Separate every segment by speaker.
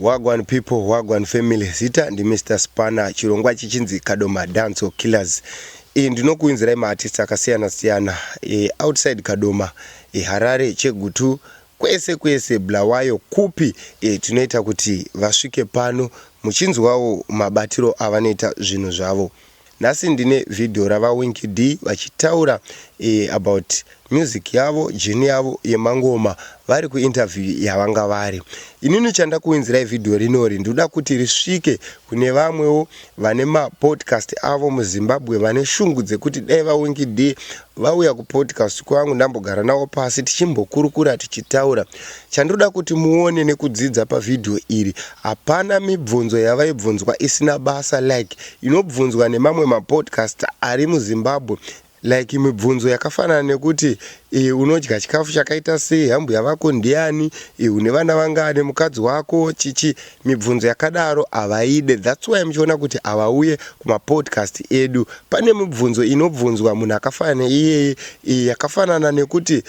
Speaker 1: Wagwan people, wagwan family. Zita ndi Mr Spanner. Chirongwa ichi chinzi Kadoma Dance or Killers. E, ndinokuinzirai maartist akasiyana siyana. E, outside Kadoma, e, Harare, Chegutu, kwese kwese Bulawayo kupi e, tinoita kuti vasvike pano muchinzwawo mabatiro avanoita zvinhu zvavo. Nhasi ndine video rava Winky Dee vachitaura about music yavo, journey yavo yemangoma vari ku interview yavanga vari. Inini chandakuwinzirai video rinori ndoda kuti risvike kune vamwewo vane ma podcast avo mu Zimbabwe vane shungu dzekuti dai va Winky Dee Vauya kupodcast kwangu ndambogara navo pasi tichimbokurukura tichitaura. Chandinoda kuti muone nekudzidza pavideo iri hapana mibvunzo yavaibvunzwa isina basa like inobvunzwa nemamwe mapodcast ari muZimbabwe like mibvunzo yakafanana nekuti eh, unodya chikafu chakaita sei, hambhuya vako ndiani, eh, une vana vangani, mukadzi wako chichi Mibvunzo yakadaro havaide that's why muchiona kuti havauye kumapodcast edu. Pane mibvunzo inobvunzwa munhu akafanana neiyeye iyi yakafanana nekuti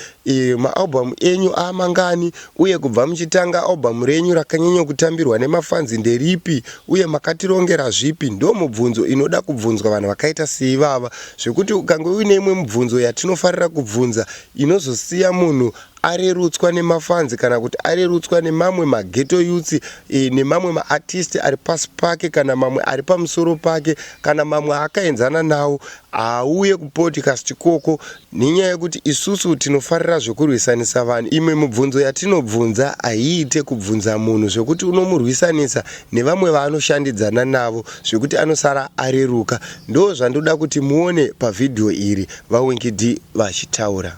Speaker 1: maAlbum enyu aamangani uye kubva muchitanga album renyu rakanyanya kutambirwa nemafans nderipi uye makatirongera zvipi ndomubvunzo inoda kubvunzwa vanhu vakaita seivava zvekuti ukange uine imwe mibvunzo yatinofarira kubvunza inozosiya munhu arerutswa nemafanzi kana kuti arerutswa nemamwe mageto yutsi e, nemamwe maartisti ari pasi pake kana mamwe ari pamusoro pake kana mamwe akaenzana nawo haauye kupodcast ikoko nenyaya yekuti isusu tinofarira zvekurwisanisa vanhu imwe mubvunzo yatinobvunza haiite kubvunza munhu zvekuti unomurwisanisa nevamwe vaanoshandidzana navo zvekuti anosara areruka ndo zvandoda kuti muone pavhidhiyo iri vawinkid vachitaura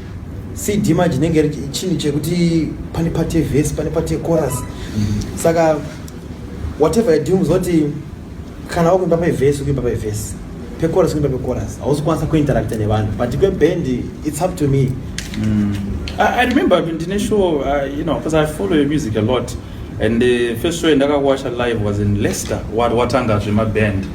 Speaker 2: cd manje inenge chinhu chekuti pane part yevhesi pane part yecoras mm-hmm. saka whatever you do muzoti kana wakuimba pevhesi ukuimba pevhesi pecoras ukuimba pecoras hausi kwanisa kuinteracta nevanhu but kweband its up to me mm. I,
Speaker 3: i remember ndine show uh, you know because i follow your music a lot and the uh, first show yandakakuwasha live was in leicester watanga zvemaband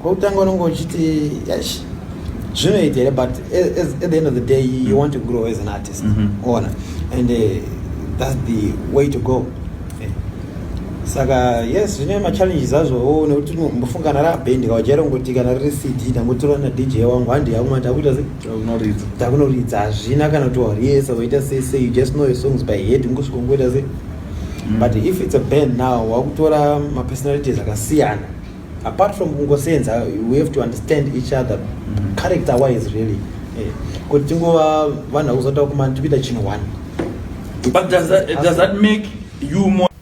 Speaker 3: Kwekutanga
Speaker 2: unenge uchiti yash zvinoita here but as, at the end of the day you, you want to grow as an artist mm -hmm. ona and uh, that's the way to go eh. saka yes zvine machallenges azvowo nekuti mbofunga kana rabhendi kawajaira kungoti kana riri cd tangotora na dj wangu handi yakuma takuita se takunoridza hazvina kana kuti wariesa waita sei sei you just know your songs by head ngosvika ungoita se mm. but if it's a band now wakutora mapersonalities akasiyana apart from kungosenza we have to understand each other mm. character wise really eh, kuti tingova vanhu vakuzotaura kumani tikuita chinhu one but
Speaker 3: does that, does that make you more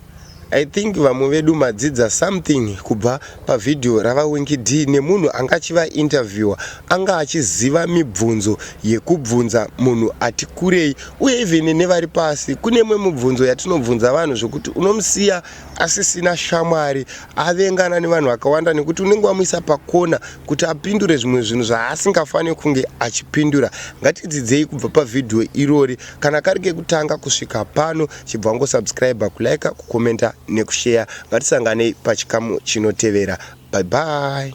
Speaker 3: i think
Speaker 1: vamwe vedu madzidza something kubva pavhidhiyo ravawinki d nemunhu anga achivainterviewer anga achiziva mibvunzo yekubvunza munhu ati kurei uye even nevari pasi kune mwe mubvunzo yatinobvunza vanhu zvekuti unomusiya asisina shamwari avengana nevanhu vakawanda nekuti unenge wamuisa pakona kuti apindure zvimwe zvinhu zvaasingafanire kunge achipindura ngatidzidzei kubva pavhidhiyo irori kana kari kekutanga kusvika pano chibva wangosubscribe kulike kukomenta nekusheya ngatisanganei pachikamu chinotevera bye bye